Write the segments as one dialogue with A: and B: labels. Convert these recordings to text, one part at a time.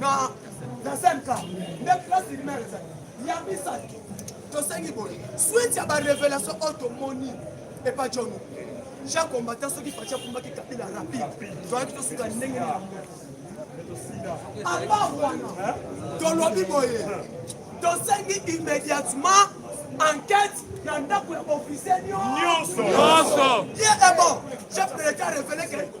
A: na na senka nde place lumière ezali ya misato tosengi boye switi ya barevelation oyo tomoni epa john ja combattant soki faci akumbaki kabila rapide toyaki tosuka ndenge na yango apa wana tolobi boye tosengi immédiatement enquête na ndako ya officiel nyonso ye ebo chef de l'état révélé que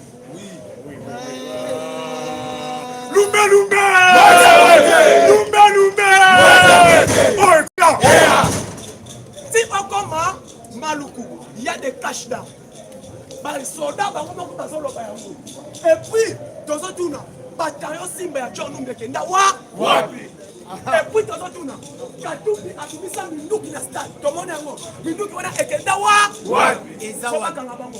A: Lumbe lumbe. Lumbe lumbe. Oh, yeah. Si okoma maluku, il y a des cash down. basoda bango moko bazoloba yango epuis tozotuna batayo simba ya john numbi ekenda wa wapi epuis tozotuna katumbi abimisa minduki na stade tomoni yango minduki wana ekenda wa wapi ezakanga bango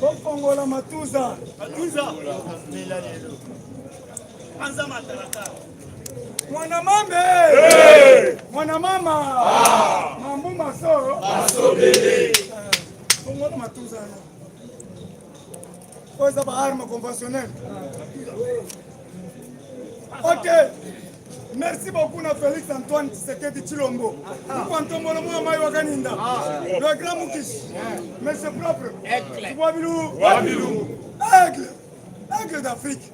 A: bokongola matuza matuza mela lelo panza matalata mwana mambe hey! mwana mama ah! mambu maso asobele kongola matuza yango oyo eza baarme conventionnel ok Merci beaucoup na Felix Antoine Tshisekedi Chilombo. Kwa ntombolo mwa mai wakaninda. Le grand Mukish. Monsieur propre. Aigle. Wabilu. Wabilu. Aigle. Aigle d'Afrique.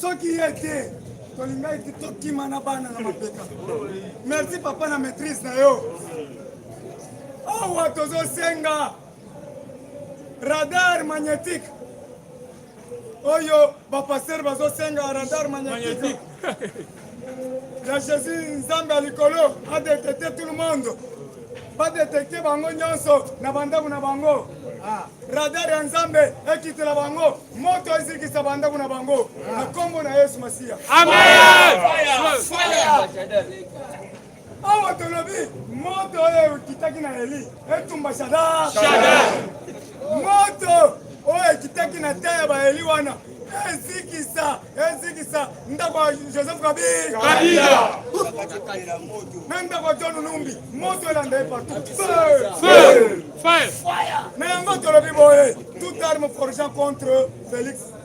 A: Soki yete tolingaki ti tokima na bana na mapeka. Merci papa na maîtrise na yo. Awa tozosenga radar magnétique oyo bapastere bazosenga radar magnétique ya jésus nzambe ya likolo adetecte tout le monde badetecte bango nyonso na bandako na bango ah. radar ya nzambe ekitela bango moto ezikisa bandako na bango na nkombo na yesu masiya amen Awa tolobi moto oyo ekitaki na Eli etumba Shadrach. Moto oyo ekitaki na te ya Baeli wana ezikisa ezikisa ndako ya Joseph Kabila na ndako ya John Numbi moto elanda ye partout na yango tolobi boye toute arme forgée contre Felix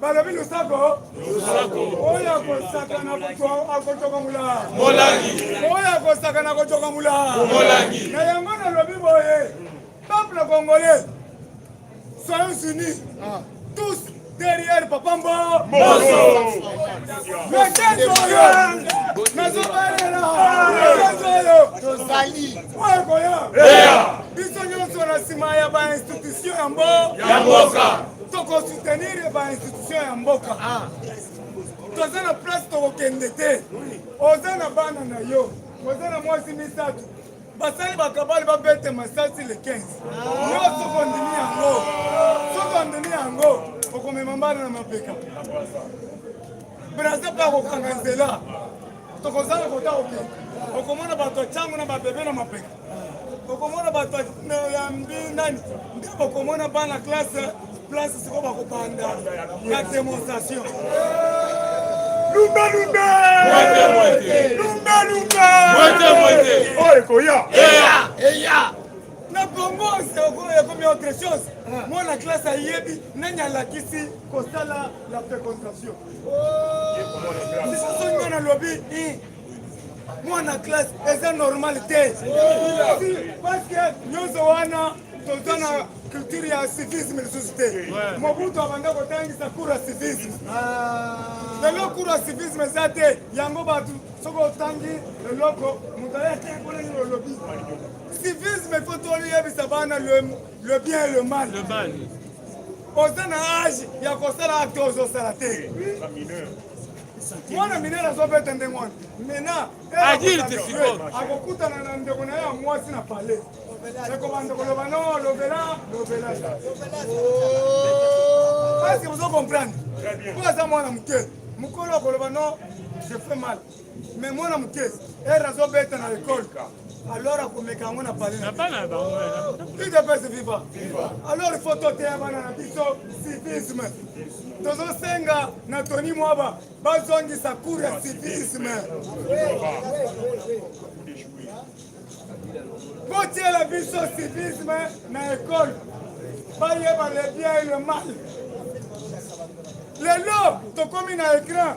A: balobi losako oyo akosakana akotokamula oyo akosakana akotokamula na yango nalobi boye peuple congolais soyons unis ah. tous derrière papa mbo metezo oyo nazobalela metezo oyo
B: tozali oyo ekoya biso nyonso na nsima ya bainstitution ya mbo ya mboka toko soutenir ba institution ya mboka ah. toza na place tokokende te oza na bana na yo oza na mwasi misato basali bakabali babete masasi le 15 yo soki ondimi yango soki ondimi yango okomema mbana na mapeka braza mpe akokanga nzela tokozala kota okende okomona bato ya ntango na babebe na mapeka bokomona bato ya mbinani nde bokomona bana classe place sikoyo bakobanda ya demonstration lumbalumba lumbalumba oyo ekoya na bongo ekomi autre chose mwana classe ayebi nani alakisi kosala la fécondation lisusu nga nalobi mwana classe eza normal te parceke nyonso wana toza na culture ya civisme lisusu te mobutu abanda kotangisa cour ya civisme ah. lelo cour ya civisme eza te yango bato soki otangi eloko moto aya te kolenge olobi civisme fo toyebisa bana le bien et le mal oza na age ya kosala acte ozosala te mwana minene azobeta ndenge wana mena akokutana na ndeko na ye ya mwasi na pale ekobanda koloba no lobela lobela parce que bozo comprendre mpo aza mwana moke mokolo akoloba no je fais mal mais mwana moke ere azobeta na ekole Alors akomeka yango na palais na bana na bango udps viva alors il faut toteya bana na biso civisme tozosenga na toni mwaba bazongisa cour ya civisme botiela biso civisme na ekole bayeba le bien et le mal lelo tokomi na écran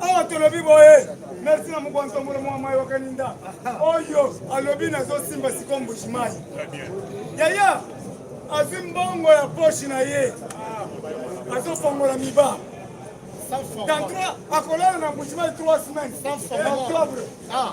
B: awa tolobi boye merci na mokonzi omolo mwa mai wakaninda oyo alobi nazosimba siko mbuji mai yaya azwi mbongo ya poshi na ye azofongola miba dans trois akolala na mbuji mai trois semaines na octobre ah.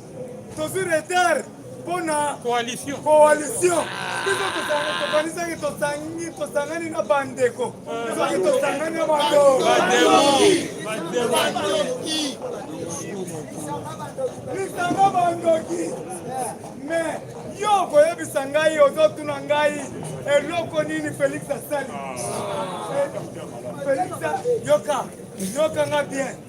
B: tozwi retard mpo na coalition biso tokanisaki tosangi tosangani na bandeko soki tosangani na bandoki lisanga bandoki me yo okoyebisa ngai ozotuna ngai eloko nini felix asali ah. eh, felix yoka yoka nga bien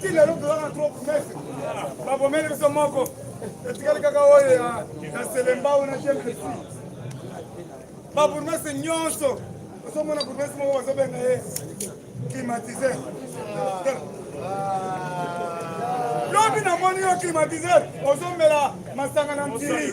B: ti lelo tozaka trop promese babomeli biso moko etikali kaka oyo ya selembao na jemesi babourgmestre nyonso ozomona bourgmestre moko bazobenga ye climatiseur lobi namoni yo climatiseur ozomela masanga na ntili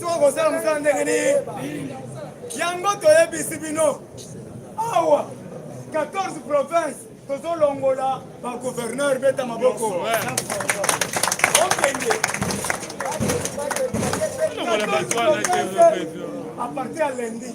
B: soki kosala mosala ndenge nini yango toyebisi bino awa 14 province tozolongola bagouverneur beta maboko okende apartir ya lendi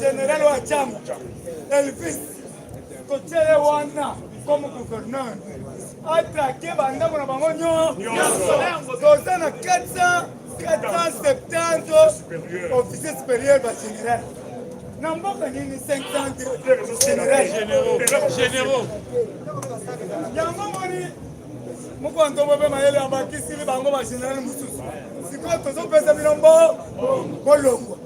B: General wa chama Elvis totie ye wana comme gouverneur atrake bandambo na bango nyonso toza na 400 470 officier supérieur ba général na mboka nini 500généraux yango moni mokonto bobe mayele abakisili bango bagénéral mosusu sikoyo tozopesa bino mbo bolongwa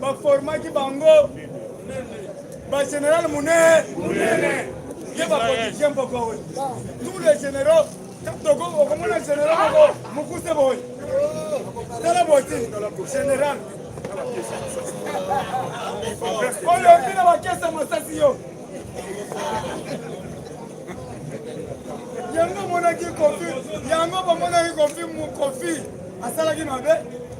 B: baformaki bango bageneral munene ye bapolitisien mpoko oyo tous les généraux toko okomona général moko mokuse boye tala boti général oyo mpina bakesa masasi yo yango omonaki kofi yango bamonaki kofi kofi asalaki mabe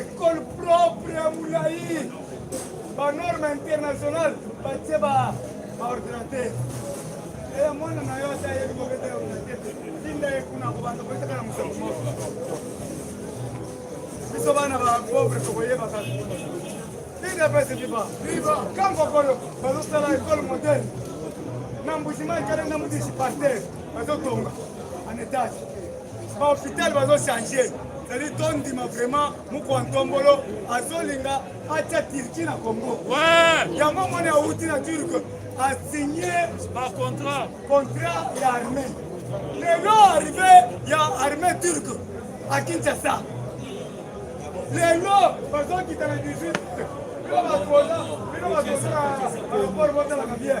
B: Ecole propre ya mulayi ba norme internationale batie ba ordinateur eya mwana na yo ata yebi kobeta ya ordinateur tinda ye kuna kobanda koyetaka na mosoko moko biso bana ba pauvre tokoyeba kaka tinda pese viva kankokolo bazosala ecole moderne na mbujimai kale na mudisi parter bazotonga en etage ba hôpital bazo changer ezali tondima vraiment mokwa ntombolo azolinga atya turki na congo yango omoni awuti na turke asigne contrat ya armée lelo arrive ya armée turke a kinshasa lelo bazokita na 18 bino bakola bino bakosala aeroport botalaka bien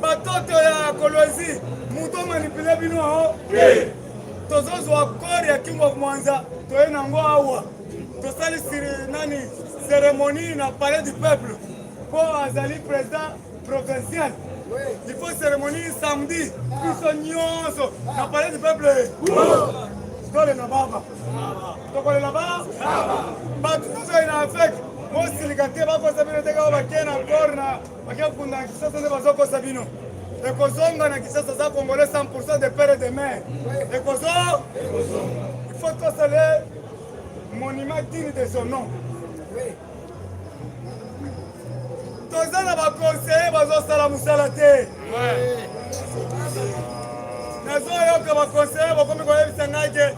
B: batoto ya kolwezi moto omanipule bino ao te tozozwa kore ya king of mwanza toye nango awa tosali siri nani ceremonie na palais du peuple mpo azali président provincial il faut cérémonie samedi biso nyonso na palais du peuple tolela baba tokolela baba bato tozali na afeke mosilika te bakosa bino te kaka bakei na kore na Bakia kunda na Kinshasa nde bazokosa bino ekozonga na Kinshasa za congolais 100% de père et de mère ekozo il faut tosala monument digne de son nom toza na baconseiller bazosala mosala te nazoyoka baconseiller bakomi koyebisa ngai ke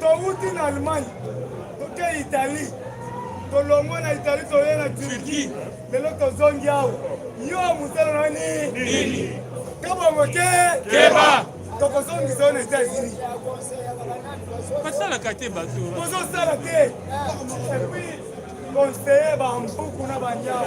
B: towuti na allemagne toke italie tolongwe na italie toye na turquie lelo tozongi awa yo mosala na nini kabongo te keba tokozongisa yo na etats-unis basalaka te bato bozosala te epuis conseiller bampuku na banyao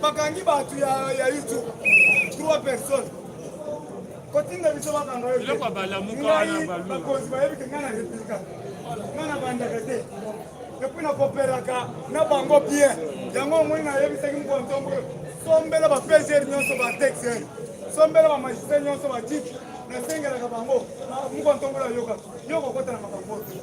B: bakangi bato ya youtube trois personnes kotinda biso bakanga ngai bakonzi bayebi ke ngai na replika ngai na bandaka te epui na koperaka na bango bien yango omoni nayebisaki mokolo ntongo sombela ba pgr nyonso ba texer sombela ba magistrat nyonso ba tit nasengelaka bango mokolo ntongo nayoka yo kokota na makambo te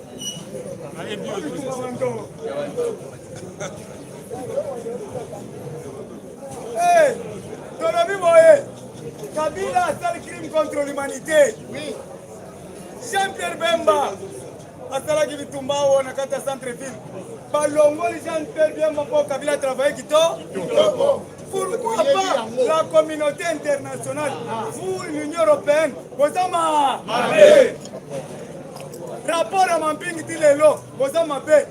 B: Hey, tolobi boye Kabila asali crime contre l'humanité. Oui. Jean-Pierre Bemba asalaki bitumba oyo na kati ya centre ville balongoli jean pierre biemba mpo kabila travaille kito pourquoi pas la communauté internationale ah. vous l'union européenne boza ma rapport ya mampingi ti lelo boza mabe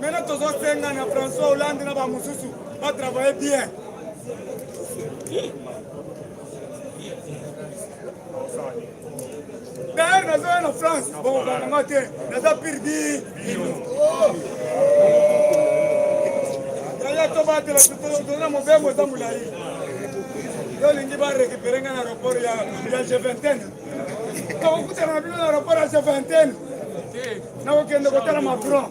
B: Maintenant tozosenga na François Hollande na bamosusu batravaille bien d'ailleurs nazoya na France bokokanga te naza pirdi yaya tobatela tozona mobembo eza molai yo olingi barekipere ngai na aéroport ya g20 tokokutana na bino na aéroport ya g20 nakokende kotala macron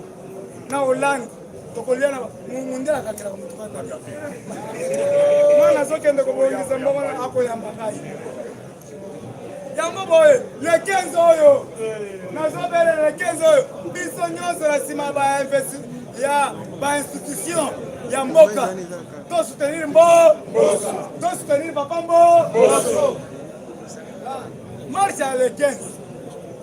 B: na hollande tokolia na mundele akakela komotuka mwana azokende kobongisa mbongo na akoyamba ngai yango boye le 15 oyo nazobele le 15 oyo biso nyonso na nsima ya bainstitution ya mboka tosoutenir mbo tosoutenir papa mbo marche ya le 15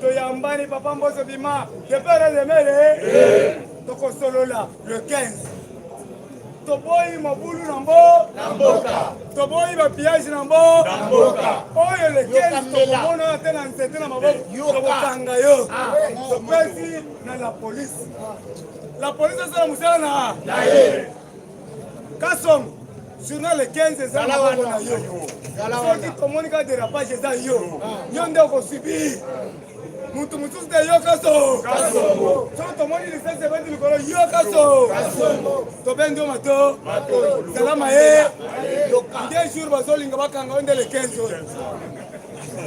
B: toyambani papa mboso bima depere lemele eh. tokosolola le 15 toboyi mobulu na mbo na mboka toboyi bapillage na mbo na mboka oyo le 15 tokomona te na nzete na maboko tokokanga yo ah. topesi na la police la police asala mosala na ye kasongo journal 15 eza na bango na yo soki tomoni ka derapage eza yo yo nde okosubir mutu mosusu te yo kaso soki tomoni lisese ebandi likolo yo kaso tobendi yo mato zala maye nde jour bazolinga bakanga yo nde le 15 oyo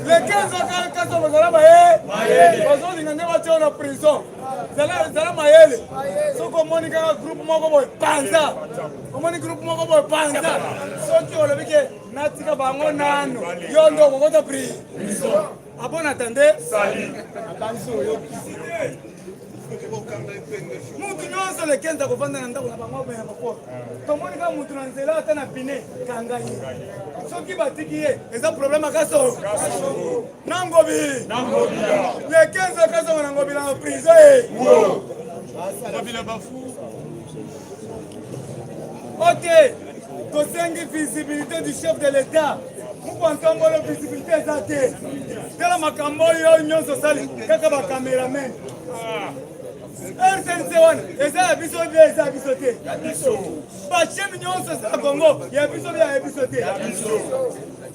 B: le 15 kaso bazala maye bazolinga nde batya yo na prison zala zala mayele soki omoni kaka groupe moko boye panza omoni groupe moko boye panza soki olobi ke natika bango nano yo ndo okokota pri abon atande abanzi oyokisi mutu nyonso lekenza kovanda na ndako na bango abaya moko tomoni kaka mutu na nzela ata na pine kanga ye soki batiki ye eza problème akaso na ngobi le 15 okazonga na ngobi na prise ok tosengi visibilité du chef de l'état mokwankambolo visibilité eza te tala makambo oyo nyonso osali kaka bacameraman ah. rtnc wana eza ya biso bie eza ya biso te bachemi nyonso eza ya kongo ya biso bie ya biso te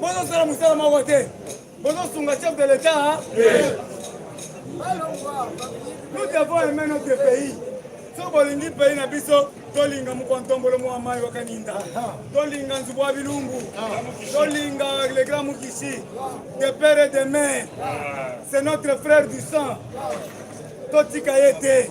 B: bozosala mosala moko te bozosunga chef de l'etat nous devons aimer notre pays so bolingi pays na biso tolinga mokwantombolo mwa mai wakaninda tolinga nzubu wa bilumbu tolinga le grand mukisi de père et de mère c'est notre frère du sang totika ye te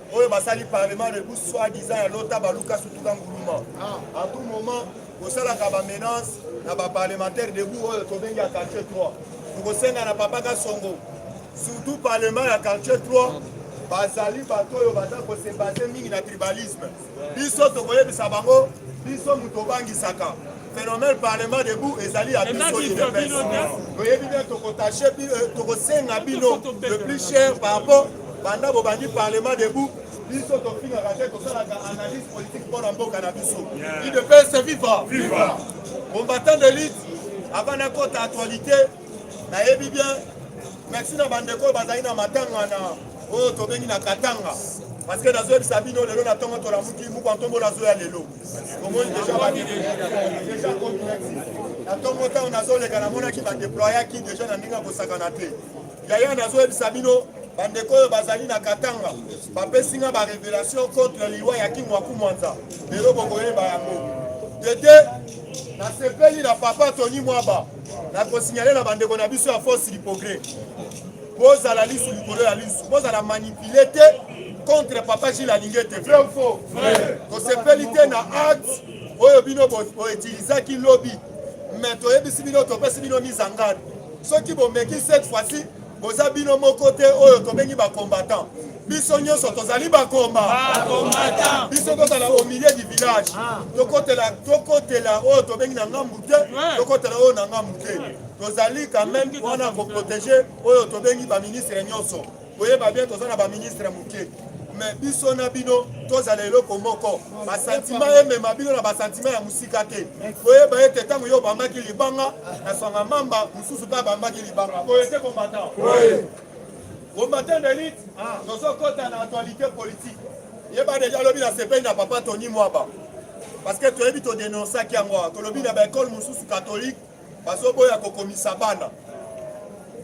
C: oyo basali parlement rebu soit disant ya lota baluka sutuka nguluma a tout moment kosalaka bamenance na baparlementaire debu oyo tobengi ya quartier 3 tokosenga na papa kasongo surtout parlement ya quartier 3 bazali bato oyo baza kosebase mingi na tribalisme biso tokoyebisa bango biso moto obangisaka phénomène parlement debout ezali ya biso udps toyebi bien tokotache euh, tokosenga bino le plus cher par rapport Banda bobandi parlement debout biso tofingaka te tosalaka analyse politique mpo na mboka na biso idps viva viva combattant de lutte avant nakota actualité nayebi bien merci na bandeko oyo bazali na matanga na oyo tobengi na katanga parce que nazoyebisa bino lelo na ntongo tolamuki mukwa ntombo nazoya lelo omoni deja deja complexe na ntongo ntango nazoleka namonaki badeployaki deja na ndenge ya kosakana te Yaya, nazoyebisa bino bandeko oyo bazali na Katanga bapesi nga ba revelation contre liwa ya Kimwaku Mwanza, lelo bokoyeba yango tete. Nasepeli na papa Tony Mwaba, nakosinyale na bandeko na biso ya force du progrès, bozala lisu likolo ya lisu, bozala manipule te contre papa Gilles Alinge te, vrai ou faux? Tosepeli te na acte oyo bino boutilisaki lobi, mais toyebisi bino, topesi bino mise en garde Soki bomeki cette fois ci boza bino moko te oyo tobengi ba combattant biso nyonso tozali bakomba biso tozala au milieu du village ah. tokotela tokotela oyo tobengi na ngambu te tokotela oyo na ngambu te tozali quand même wana koprotege oyo tobengi baministre nyonso Boyeba bien toza na ba ministre moke mais biso na bino tozala eloko moko basantima emema bino na basantima ya mosika te koyeba ete ntango yo obambaki libanga na swanga mamba mosusu mpe abambaki libanga boye te kombata combattant d'élite ah. tozokɔta na actualité politique yeba deja alobi na sepeli na papa tony mwaba parce que toyebi todenonciaki yango tolobi na baekole mosusu catholique bazoboya kokomisa bana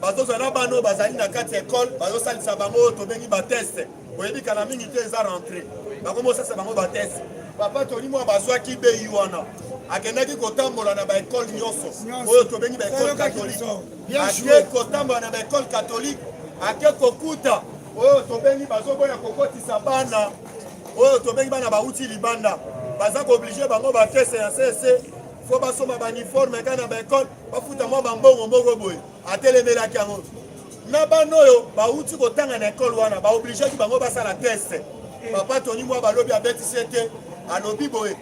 C: bazozwa na bana oyo bazali na kati ya ekole bazosalisa bango oyo tobengi bateste oyebi kala mingi te eza rentre bakomi osalisa bango bateste papa toli mwa bazwaki bei wana akendaki kotambola na baekole nyonso oyo tobengi baekole katolike ake kotambola na baekole katolike ake kokuta oyo tobengi bazoboya kokotisa bana oyo tobengi bana bauti libanda baza kooblige bango bateste ya sese fo basomba bauniforme kaka na baekole bafuta mwa bambongo moko boye atelemelaki yango na bana oyo bauti kotanga na ekole wana baobligeaki bango basala teste papa toni mwa balobi abetisi ete alobi boye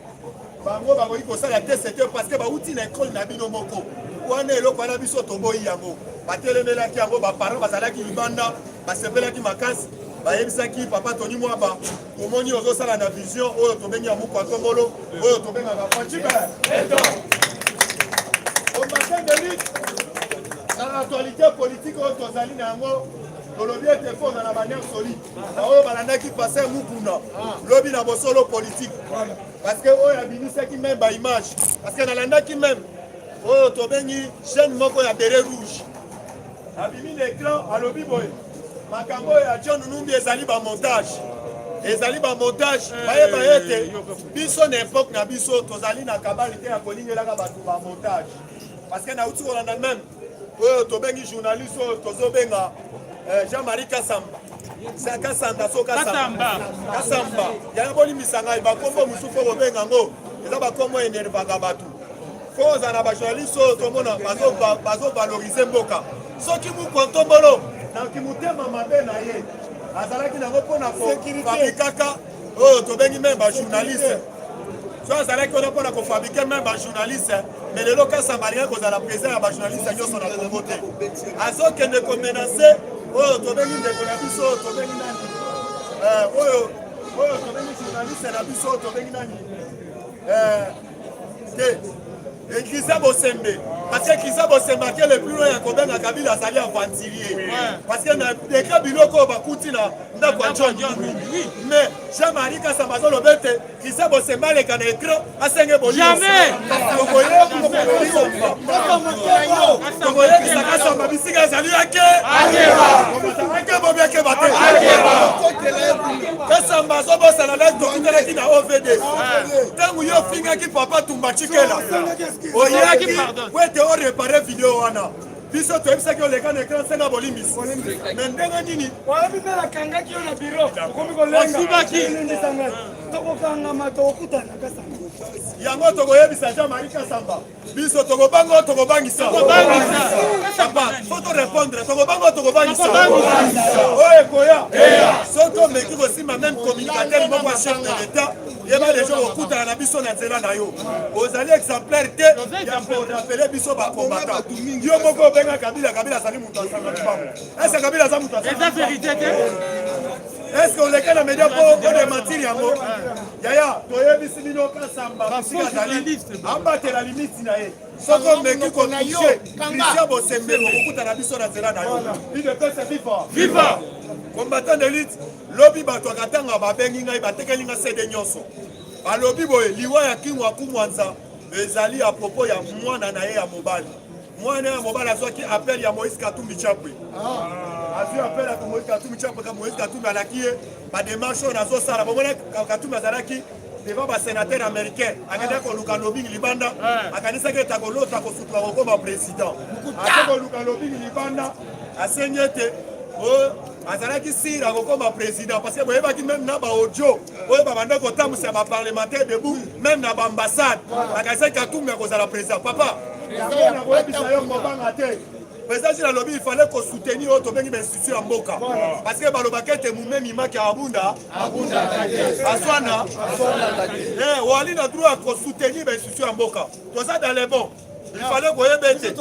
C: bango bakoki kosala teste te parceke bauti na ekole na bino moko wana eloko wana biso toboyi yango batelemelaki yango baparent bazalaki libanda basepelaki makasi bayebisaki papa toni mwaba omoni ozosala na vision oyo tobengi ya mukwa tongolo oyo tobengaka facibe omatin de lutte na actualité politique oyo tozali na yango tolobi ete fo ozala banere solide baoyo balandaki paster mukuna lobi na bosolo politique parce que oyo abimisaki meme baimage parce que nalandaki meme oyo tobengi chaîne moko ya bere rouge abimi na écran alobi boye makambo oyo ya john numbi ezali bamontage ezali bamontage eh, bayeba ete biso na epoke na biso tozali na kabali te ya kolingelaka bato bamontage parce que nauti kolanda meme oyo tobengi journaliste oyo tozobenga eh, jean marie kasamba kasanda so kasamba kasamba yango bolimbisa ngai bakombo mosusu oyo kobenga yango eza bakombo enervaka bato Fo oza na ba journaliste oyo tomona bazo bazo valoriser mboka. Soki mukwa ntombolo na kimutema mabe na ye azalaki nango mpo na kofabrikaka oyo tobengi meme ba journaliste so azalaki wana mpo na kofabrike meme ba journaliste mais lelo kasa balingi kozala president ya ba journaliste nyonso na kongo te azokende komenase oyo tobengi ndeko na biso oyo tobengi nani oyo oyo tobengi journaliste na biso oyo tobengi nani te ekiza bosembe parce que kiza bosembe ake le plus loin ya kobenga kabila azali aventurier parce que na deka biloko oyo bakuti na ndako ya john mais jean marie kasamba azoloba ete kiza bosembe aleka na ekran asenge boliotokoyebisa kasamba bisika ezali yake ake bobiakeba te kasamba azobosana na tokutanaki na ovd ntango yo ofingaki papa tumba cikela oyaki po ete orepare video wana biso toyebisaki oleka na ekran senga bolimbisi me ndenge nini oyebi mpe nakangaki
B: yo na biro okomi kolengaosibakitokokangama tokokutana kasamba yango
C: tokoyebisa jean marie kasamba biso tokobanga tokobangisa papa fo to répondre tokobanga tokobangisa oyo ekoya soki tomeki kosimba meme communicateur moko ya chef de l'état yeba deja okutana na biso na nzela na yo ozali exemplaire te ya korapele biso bakombata yo moko obenga kabila kabila azali moto asanga libango ese kabila aza moto asanga eske oleka na media mpo odematiri yango Yaya, toyebisi bino Kasamba bisika azali abatela limiti na ye. Soki omeki kotushe Christian Bosembelo kokutana biso na nzela na yo. Idepesa viva. Viva. Combattant d'élite lobi bato ya Katanga babengi ngai batekeli ngai sede nyonso. Balobi boye liwa ya Kingu akumwanza ezali ya propos ya mwana na ye ya mobali mwana ya mobali azwaki appel ya moïse katumbi chapwe ah. azwi appel ya moïse katumbi chapwe ka moïse katumbi alaki ye bademarche oyo nazosala bomona katumbi azalaki devant basénateur américain akendaki ah. koluka lobing libanda ah. akanisaki ete akolota kosutuka kokoma président ake koluka lobing libanda asengi ete oh, azalaki sire akokoma président parce que boyebaki meme na baaudio oyo babanda kotambwisa ba parlementaire debout meme na baambassade bakasaki katumbi akozala président papa nakoyebisa yo kobanga te président jina alobi ifale kosoutenir oyo tobengi bainstitution ya mboka parce que balobaka ete momemi maki ya abunda aswana wali na droit ya kosoutenir bainstitution ya mboka toza dans le bon ifale koyeba ete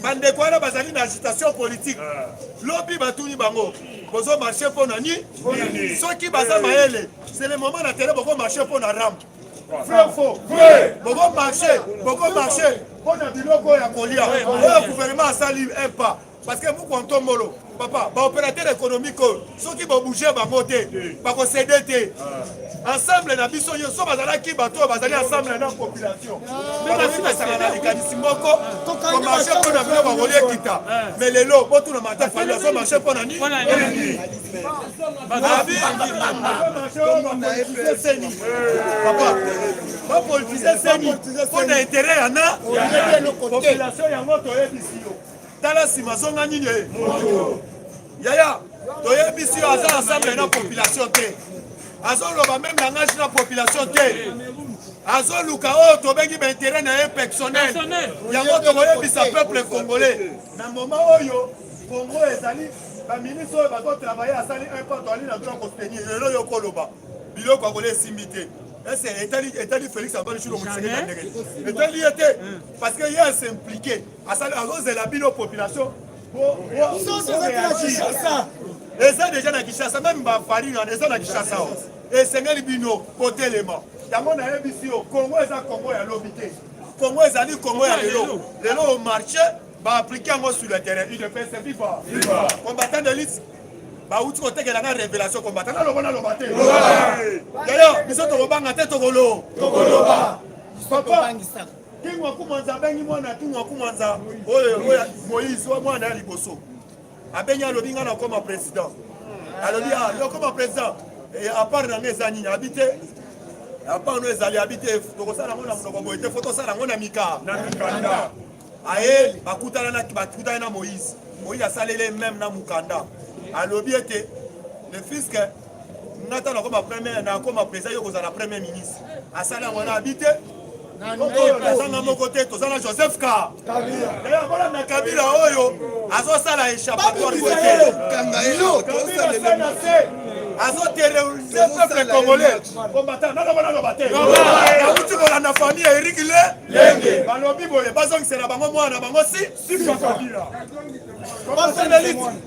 C: bandeko wana bazali na agitation politique ah. lobi batuni bango bozo marche mpo na nini soki baza eh. mayele c'est le moment na tele boko marche mpo na ram vrai faux vrai boko marche boko marche mpo na biloko ya kolia oyo gouvernement asali un pas parce que mukwa ntombolo papa baopérateur économique oyo soki bobouge bango te bakosede te ah. ensemble na biso yo so bazalaki bato oyo bazali ensemble na population ah. bakoki kosanga na likanisi moko komarche ah. mpo na bino bakoli ekita me lelo botuna mata fali azo marche mpo na nini papa bapolitise seni mpo na intere yana population yango toyebisi yo tala sima zonga nini eh? moto yaya toyebisi yo aza ensemble na population te azoloba meme langage na population te azoluka oyo oh, tobengi baintere na ye personnel yango tokoyebisa peuple congolais na moma oyo congo ezali baministre oyo bazotravaille asali un pas toali na droit kostenir lelo yo koloba biloko akola esimbi te ese etali félix antoine chilo mokiseketandeke etali ye te parce que ye asimplike asali azozela bino population eza deja na kishasa meme bafarine wana eza na kishasa o esengeli bino kotelema yango nayebisi yo kongo eza kongo ya lobi te kongo ezali kongo ya lelo lelo o marché baaplike yango sur le terrain udps viva combattant de lite bauti kotekela nga révélation combattant naloba naloba te yayo biso tokobanga te tokolo tokoloba papa King Wakumanza abengi mwana ya King Wakumanza oyo Moïse oyo mwana ya liboso abengi alobi ngai nakoma président alobi ah, yo koma président eh, apart na ngai eza nini abi te apart no ezali abi te tokosala yango na monoko boye te fo tosala yango na mika na mikanda aye bakutana na bakutana na Moïse Moïse asaleli meme na mukanda alobi ete le fisque nga ta nakoma premier nakoma président yo kozala premier ministre asali yango na abi te oyo nazanga moko te toza na joseph ka daya kolanda kabila oyo azosala échappatoire azoterrorise peuple congolais combattant naloba naloba te nauti kolanda famille ya erik le lenge balobi boye bazongisela bango mwana bango si sika kabila basendeliti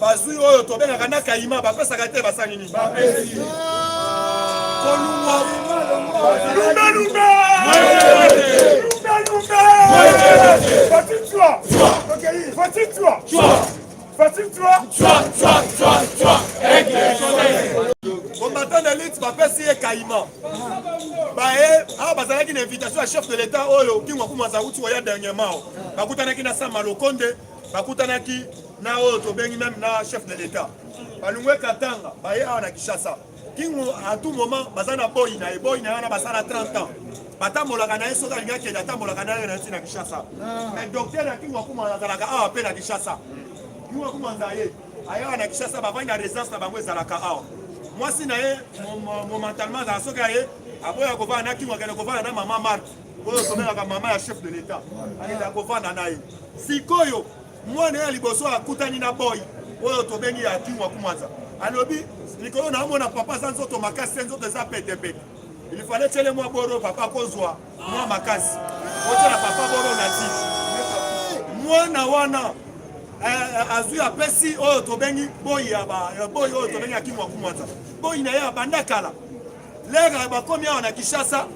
C: bazwi oyo tobengaka na kayima bapesaka te basali nini bapesi kolungwa lungalunga combattant de lutte bapesi ye kayima baye awa bazalaki na invitation ya chef de l'état oyo kingo akuma azauti oya dernièrement bakutanaki na sama lokonde bakutanaki na oyo tobengi meme na chef de l'etat balungwe katanga baye awa na kinshasa kingo à tout moment baza na boyi na ye boyi na ye wana basala 30 ans batambolaka na ye soki alingi akende atambolaka na ye na nti na kinshasa ah. mais docteur ya kingo akuma azalaka awa mpe na kinshasa kingo akuma aza ye ayawa na kinshasa bavandi na résidence na bango ezalaka awa mwasi na ye momentalement azala soki aye aboya kovanda na kingo akende kovanda na mama marke oyo somelaka mama ya chef de l'etat akendaka kovanda na ye sikoyo mwana ya liboso akutani na boy oyo tobengi ya kimwa kumwanza alobi likolo na omona papa aza nzoto makasi nzoto eza petepete ilifale tyele mwa boro papa kozwa mwa makasi otyela papa boro na ti mwana wana eh, eh, azwi apesi oyo tobengi boyi ya boyi oyo tobengi ya kimwa kumwanza boyi na ye abanda kala lere bakomi awa na kishasa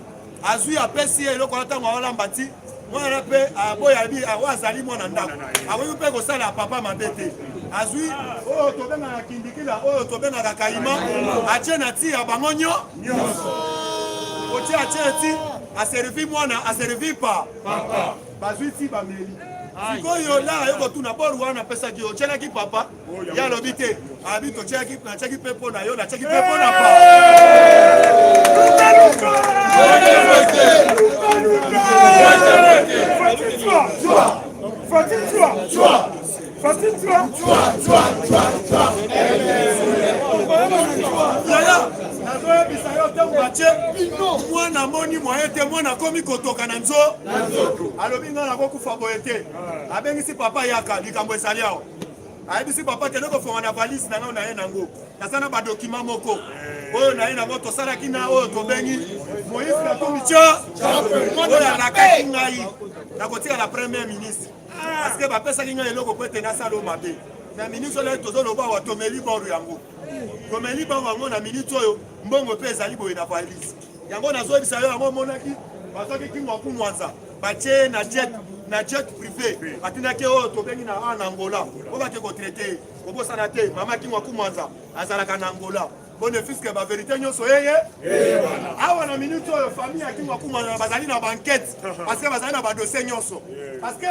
C: azwi apesi ye eloko wana ntango aolamba ti mwana mpe aboya bi oyo azali mwana ndako akoki mpe kosala papa mabe te azwi oyo tobengaka kindikila oyo tobengaka kaima atie na ti ya bango nyo nyonso otie atie ti aservi mwana aservi pa papa bazwi ti bameli sikoyo lara yo kotuna bor wana apesaki yo otyelaki papa ye alobi te abi totyaki natyaki mpe mpo na yo natyaki mpe mpo na pa nazoyebisa yo ntango batye mwana amoni mwaye te mwana akomi kotoka na nzo alobi ngai nakokufa boye te abengisi papa yaka likambo ezali awa ayebisi papa kende kofonga na valise na ngai naye nango naza na badokima moko oyo naye nango tosalaki na oyo tobengi moïse katumbi tya oyo alakaki ngai nakotika na premier ministre parce que bapesaki ngai eloko po ete nasala oyo mabe na minute oyo tozoloba awa tomeli boro yango tomeli boro yango na minute oyo mbongo mpe ezali boye na valise yango nazoyebisa yo yango omonaki bazwaki kingo ya kumwanza batie ye na jet na jet privé atindaki ye oyo tobengi na a na angola oyo bake kotraite ye kobosana te mama kingo ya kumwanza azalaka na angola bone fiske baverité nyonso yeye awa na minute oyo famille ya kingo ya kumwanza bazali na bankete parceke bazali na badosie nyonso parceke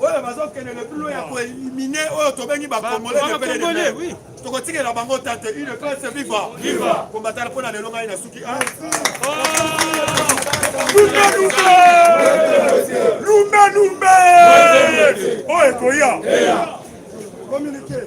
C: oyo bazokende le plus loin ya ko éliminer oyo tobengi ba congolais de pele de mer tokotikela bango ta te une classe viva viva combatana mpo na lelo ngai na suki ah. lumbe lumbe oyo ekoya communiquer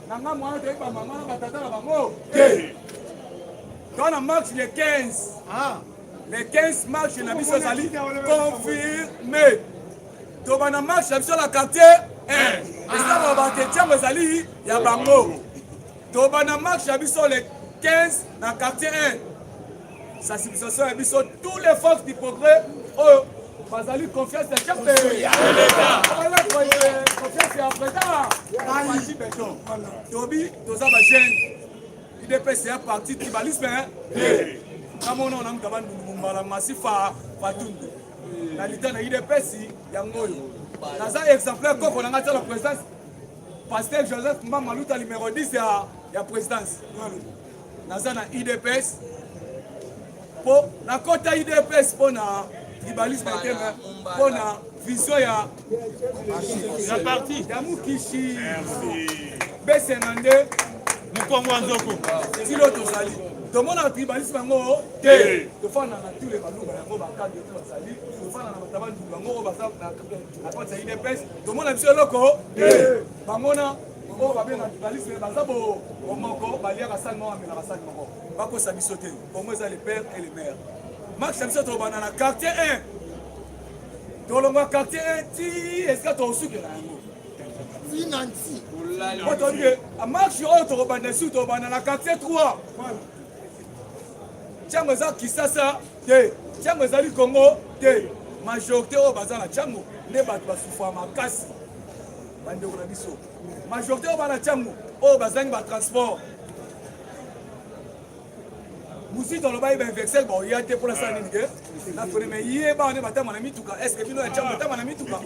A: na nga mwana toyebi ba mama na ba tata na bango te toza na marche le 15 ah. le 15 marche na biso ezali confirme tobanda marche na biso na quartier eh. esala bato etiango ezali ya bango tobanda marche na biso le 15 na quartier 1 sensibilisation ya biso tous les forces du progrès oyo bazali
D: confiance ya chefbazali confiance ya président aji beton tobi toza bagene idps ya parti tribalisme kamona ona mutu abandungu mbala masifa fatundu na lita na idps yango oyo naza exemplaire koko na ngai tala présidence pasteur joseph mbamaluta numero 10 ya présidence naza na udps po nakota udps mpo na tribalisme te mpo na vision ya ya parti ya mukishi besenga nde mokongo ya nzoko tilo tozali tomonaka tribalisme yango te tofanda na tule baluba yango bakadi oyo bazali tofanda na batabandulu yango oyo baza na kati ya udps tomona biso eloko te bamona oyo babenga dubaliste me baza bomoko baliaka sani moko bamelaka sani moko bakosa biso te kongo eza le père et le mare max ya biso tolobana na quartier 1 tolongwa quartier 1 ti esika tokosukela yango tina
E: nti po toyebi
D: ke marche oyo tokobanda esu tokobanda na quartier 3 ntango eza kisasa te ntango ezali kongo te majorité oyo baza na ntango nde bato basufa makasi bandeko na biso majorité oyo bana tiango oyo bazangi batransport muzito alobaki bainversel baoya te mpo nasala nini ke nafoneme ye bawa nde batama na mituka estce bino ya tiango batama na mituka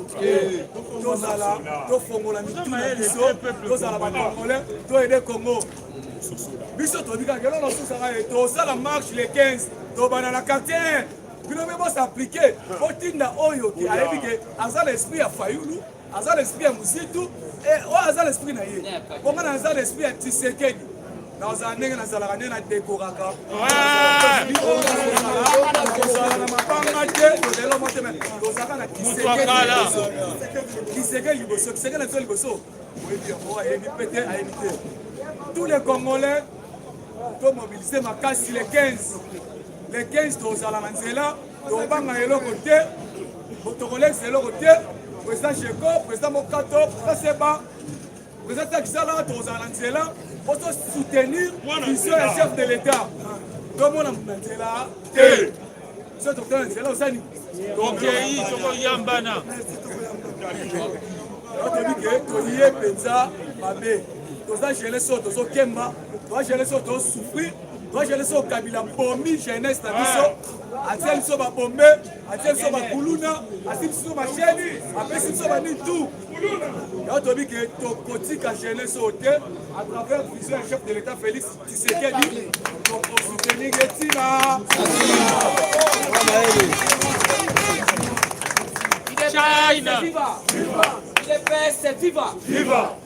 D: tozala tofongola mitu na biso tozala bacongolais toyede congo biso toyebi kaka eloko nasusaka ye tosala marche le 15 tobanda na quartier bino mpe bosaplike botinda oyo ke ayebi ke aza na esprit ya fayulu aza na esprit ya muzitu eh, oyo aza na esprit na ye bonga na aza na esprit ya tisekedi nazala ndenge nazalaka nde nadekoraka kozala na mabanga te tozali motema tozalaka na kiseke liboso kiseke na biso liboso oyebi yango ayebi mpe te ayebi te tous les congolais tomobilise makasi le 15 le 15 tozala na nzela tokobanga eloko te tokolekisa eloko te président jeko président mokato président seba président takisala tokozala na nzela mpo tosoutenir vision ya chef de l'état tomona na nzela te biso tokota na nzela osani tokei
E: tokoyambana
D: toyebi ke toye mpenza mabe toza jeunesse oyo tozokemba toza jeunesse oyo tozosouffrir toza jeunesse oyo kabila bomi jeunesse na biso atie biso babombe atie biso bakuluna atie biso basheni apesi biso bani tout yango toyebi ke tokotika jeunesse oyo te à travers vision ya chef de l'état félix tisekedi tokosoutenir ye ntina China! Viva!
E: Viva!
D: Viva! Viva!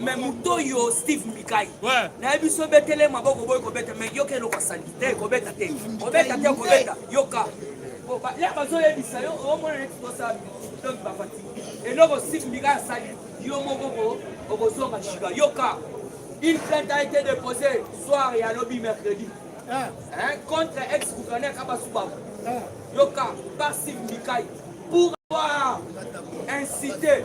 D: mais moto oyo steve mikai nayebi so
E: obetele
D: maboko boyi kobeta mais yoka eloko asali te kobeta te kobeta te kobeta yoka ya bazoyebisa yo omona neti tosala donc bapati eloko steve mikai asali yo moko okozonga shika yoka une plainte a été déposée soir ya lobi mercredi ah. hein, contre ex gouverneur kabasubabu ah. yoka par steve mikai pour avoir incité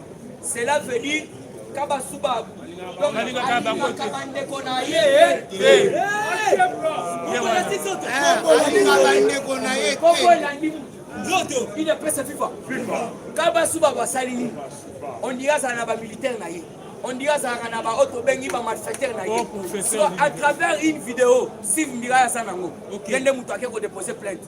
D: Cela veut dire kabasuba donc alingaka bandeko na ye bandeko na ye elandi nzoto ine pesa fifa kabasuba basali nini ondira azala na bamilitaire na ye on dirait azalaka na baoyo tobengi bamalfaiteur na ye oh, à travers une vidéo sive mbila ya sa nango ye nde moto ake kodepose plainte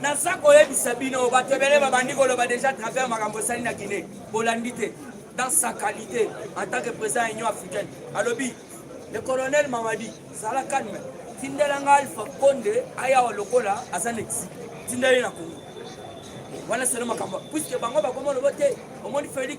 D: Naza koyebisa bino bato ebele babandi koloba deja travers makambo esali na Guinée bolandi te dans sa qualité en tant que président ya Union africaine alobi le colonel Mamadi zala calme tindela nga Alpha Konde ayawa lokola aza na exil tindeli na Congo wana selo makambo puisque bango bakoma lobo te omoni Felix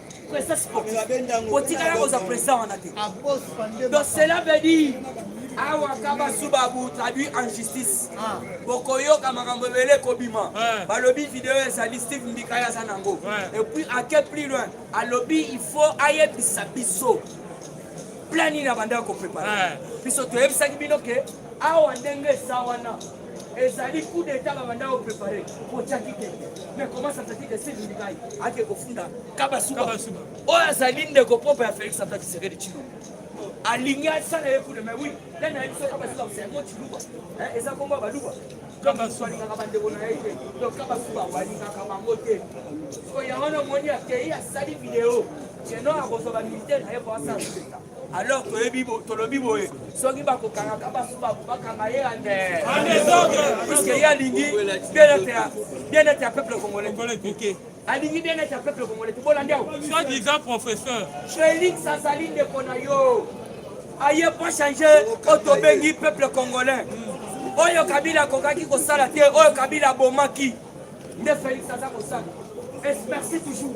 D: Presa sportif. Otikala koza presa wana te. Donc cela veut dire awa kabasubabu traduit en justice ah. bokoyoka makambo ebele ekobima balobi video ezali steve mbikaya aza nango epuis ake plus loin alobi il faut ayebisa biso plan nini abandaki koprepare biso toyebisaki bino ke awa ndenge eza wana ezali coup d'etat babanda ko prepare kotyaki te mais comment ça fait que sylvie ndikai ake kofunda kabasuba oyo azali ndeko propre ya félix antoine tshisekedi tshilombo alingi asala ye kuna mais oui nani ayebi so kabasuba yango tshiluba eza kombo ya baluba alingaka bandeko na ye te donc kabasuba alingaka bango te sikoyo yango na omoni akei asali video keno akozwa bamilitaire na ye po asala Alors toyebi tolobi boye soki bakokangaka basuba bakanga ye ande puisque ye alingi bien-être ya peuple congolais alingi bien-être ya peuple congolais tobolandi awa soit disant professeur
E: felix azali
D: ndeko na yo aye po change oyo tobengi peuple congolais hmm. oyo kabila akokaki kosala te oyo kabila abomaki nde felix aza kosala merci toujours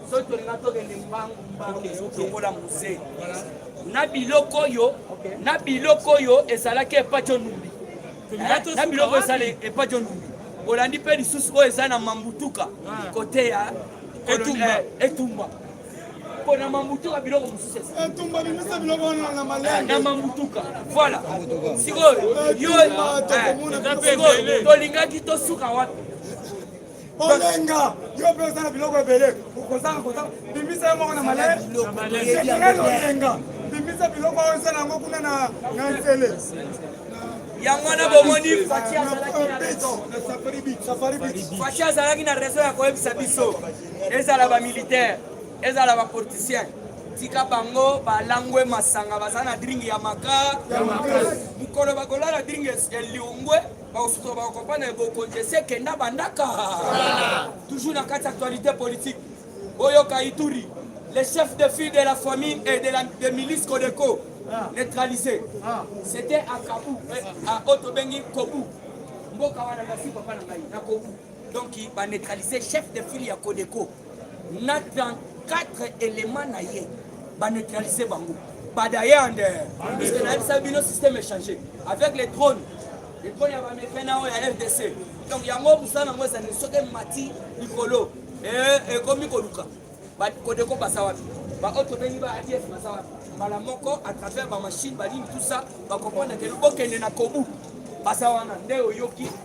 D: soki tolinga tokende mbangu mbangu lokola muse na biloko oyo na biloko oyo ezalaki epaco numbi eh, na biloko ezala epaco numbi olandi mpe lisusu oyo eza na mambutuka ah. kote ya etumba mpo na mambutuka biloko mosusu na mambutuka voilà sikoyo yo eh, tolingaki tosuka wapi olenga yo mpe oza na biloko ebele okozanga kozanga bimisa yo moko na malele olenga bimisa biloko oyo ozala yango kuna na nzele yango wana bomoni faci azalaki na reseau ya koyebisa biso ezala bamilitaire ezala bapoliticien tika bango balangwe masanga baza na dringi ya maka mokolo bakolala dringi ya liongwe baosusu bakokopa na bokonzi esi ekenda bandaka toujours na kati actualité politique boyoka ituri le chef de fille de la famille et de, la, de milice codeco ah. neutralisé ah. c'était à kabu eh, à otobengi kobu mboka wana nasi papa na ngai na kobu donc baneutralise chef de file ya codeco na 34 éléments na ye ba neutraliser bango badayande puisque nayebisa bino système échange avec les drones les drones ya bamefin na oyo ya rdc donc yango mosala yango ezali soki emati likolo eh, ekomi koluka kodeko baza wapi baoyo tobengi ba adf baza wapi mbala moko à travers bamachine banini tout ça bakomprendre ke bokende na kobu baza wana nde oyoki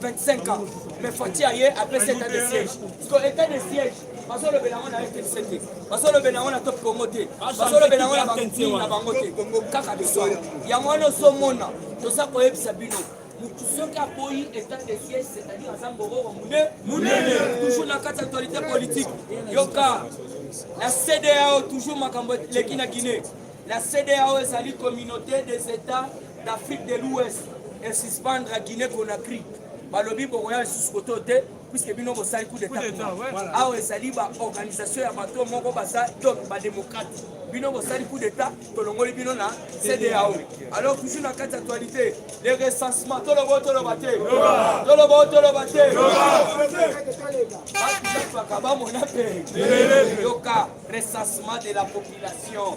D: 25 ans mais fati aye apesi etat de siège siko etat de siège bazolobela yango na rtc te bazolobela yango na top congo te bazolobela yango na banini na bango te kaka biso yango wana ozomona toza koyebisa bino motu soki aboyi etat de siège c'est-à-dire aza mbororo monene toujours na kati actualité politique yoka na cdao toujours makambo eleki na guinée la cdao ezali communauté des états d'Afrique de l'Ouest et suspendre à Guinée Conakry balobi bokoya lisusu koto te puisque bino bosali coup d'état awa ezali baorganisation ya bato moko baza donc badémocrate bino bosali coup d'état tolongoli bino na cdao alors toujours na kati actualité le recensement toloba o toloba te toloba o toloba te bakabamona mpe yoka recensement de la population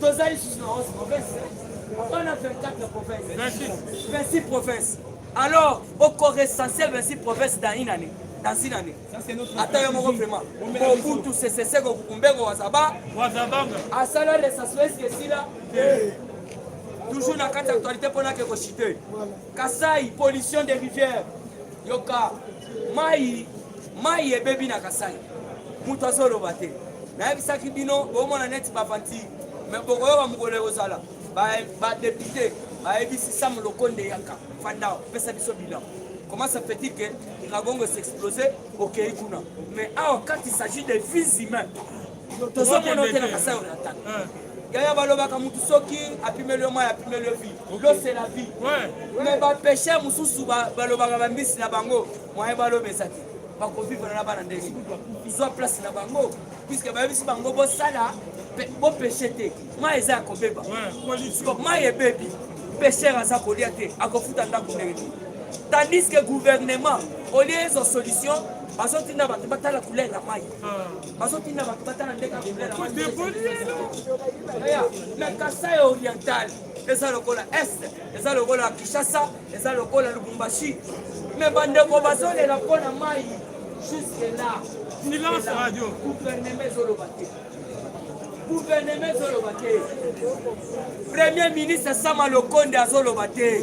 D: toza lisusu na 11 province on a 24 province 26 province alors okorecense 26 province dans une année dans une année ata yo moko vraiment mobutu seseseko kukumbeko wazaba asala recensement eske esila toujours na kati actualité mpo nake kochite kasai pollution des rivières yoka mai mai ebebi na kasai moto azoloba te nayebisaki bino bomona neti bavantire me bokoyoka mokolo ekozala badepute bayebisi sam lokonde yaka fanda pesa biso bilan comment ça fait-il que Iragongo s'explosait au Keikuna Mais ah, quand il s'agit des vies humaines, tozomona ote na kasai oriental yaya balobaka motu soki apimeli yo mai apimeli yo vie losela vie me bapeshe mosusu balobaka bambisi na bango moyen baloba eza te bakovivre na bana ndenge zwa place na bango puiske bayebisi bango bosala bopeshe te mai eza ya kobeba mai ebebi pesher aza kolia te akofuta ndako ndenge te tandis que gouvernement olie ezo solution bazotinda bato batala couleur ya mai bazotinda bato batala nde kabila na kasai oriental eza lokola est eza lokola kinshasa eza lokola lubumbashi me bandeko bazolela mpo na mai jusque là silence radio
E: gouvernement ezoloba
D: te guverneme ezoloba te premier ministre sama lokonde azoloba te